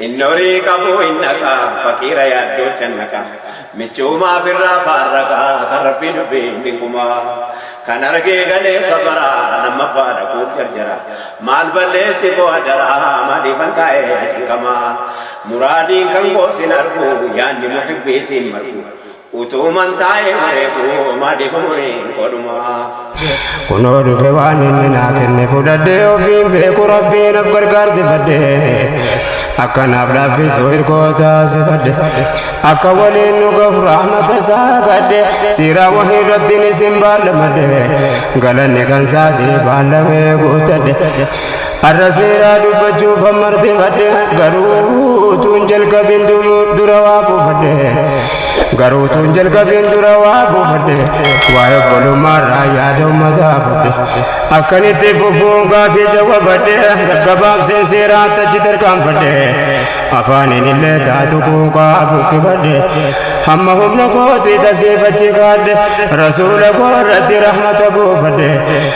Inni horii qabu hin dhaqa, faqiira yaaddoo channaqa. Michuumaa firraa faarraqa, kan rabbii dubbii hin dinquma. Kan argee galee sabara, lammaffaa dhaquuf jarjara. Maal balleessi koo adara, maaliifan taa'ee cinqama. Muraadiin kan koo sin argu, yaanni muhibbii siin margu. Utuman taa'ee bareedu maaliif umuriin koo dhumaa. Kunoo dhufe waan inni naa kenne fudhadhee ofiin beeku rabbii naaf gargaarsifadhe. Akka naaf laaffisu hirkoo taasifadhe. Akka waliin nu gahu rahmata isaa kadhe. Siiraa wahii irratti ni sin baallamadhe. Galanni kan saatii baallamee guuttadhe. Har'a seeraa dubbachuuf hammartifadhe garuu tuun jalqabin dura waa buufadhe garuu tuun jalqabin dura waa buufadhe waa'ee obbolummaarraa yaada ummataa fudhe akkan itti fufuun gaafii jawwabadhe gabaabseen seeraa tachi tarkaanfadhe afaaniin illee taatu quuqaa buqqifadhe hamma humna kootii tasiifachi kaadhe rasuula koo irratti rahmata buufadhe